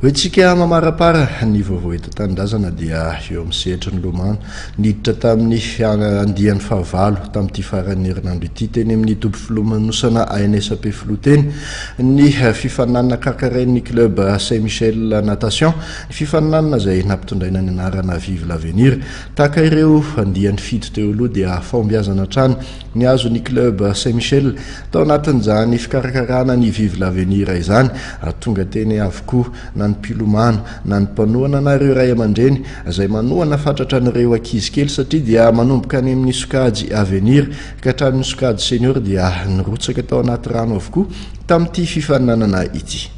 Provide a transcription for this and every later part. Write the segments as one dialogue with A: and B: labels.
A: Hoy tsika mamarapara ny vaovao eto an-tanindrazana dia eo amin'ny sehatry ny lomano. Niditra tamin'ny andiany fahavalo tamin'ity faran'ny herinandro ity teny amin'ny toby filomanosana ANSP Filoteny ny fifaninanana kankarain'ny club Saint Michel Natation. Fifaninanana izay nampitondraina ny anarana Vive l'avenir. Tahaka ireo andiany fito teo aloha dia fahombiazana hatrany Nihazo ny club Saint Michel tao anatin'izany fikarakarana ny Vive l'avenir izany ary tonga teny avokoa na ny mpilomano na ny mpanohana na ireo ray aman-dreny izay manohana fatratra an'ireo ankizy kely satria dia manomboka any amin'ny sokajy avenir ka hatramin'ny sokajy senior dia nirotsaka tao anaty rano avokoa tamin'ity fifaninanana ity.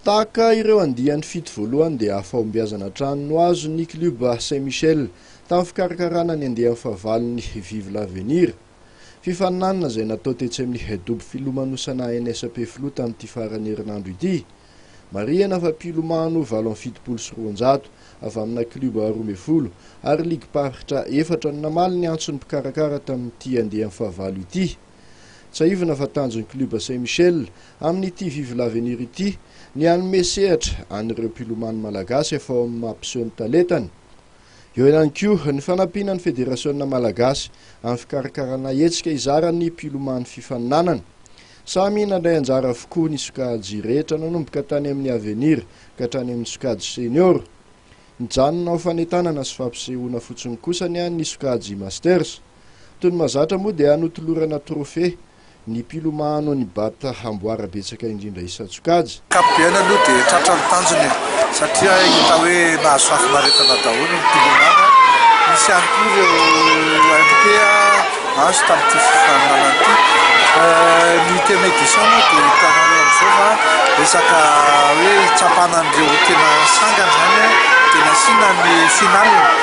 A: Tahaka ireo andiany fito voalohany dia hahafahombiazana hatrany no azon' ny klioba Saint Michel tamin'ny fikarakarana ny andiany fahavalon'ny Vive l'Avenir. Fifaninanana izay natao tetsy amin'ny dobo filomanosana NSP Filoha tamin'ity faran'ny herinandro ity. Marihana fa mpilomano valo amby fitopolo sy roanjato avy amina klioba roa ambin'ny folo ary ligim-paritra efatra no namaly ny antson'ny mpikarakara tamin'ity andiany fahavalo ity. Tsiahivina fa tanjon'ny klioba Saint Michel amin'ity Vive l'avenir ity ny hanome sehatra an'ireo mpilomano malagasy efa ao amin'ny maha mpiseho ny talentany. Eo ihany koa ny fanampiana ny federasiona malagasy amin'ny fikarakarana hetsika hizara ny mpilomano fifaninanana. Samy nandray anjara avokoa ny sokajy rehetra nanomboka tany amin'ny avenir ka hatrany amin'ny sokajy senior. Nijanona ho fanentanana sy fampisehoana fotsiny kosa ny an'ny sokajy masters. Toy ny mahazatra moa dia notolorana trophée ny mpilomano an'i Bat amboara betsaka indrindra isan-tsokajy. Ankapobeny aloha dia
B: tratra ny tanjony e, satria hita hoe nahazo fahafinaretana daholo ny mpilomano. Nisy ihany koa ireo MP azo tamin'ity fifaninanana ity. Ny huitième édition moa dia hitanareo amin'izao fa resaka hoe hitsapana an'ireo tena sangany izany dia nasiana ny finale.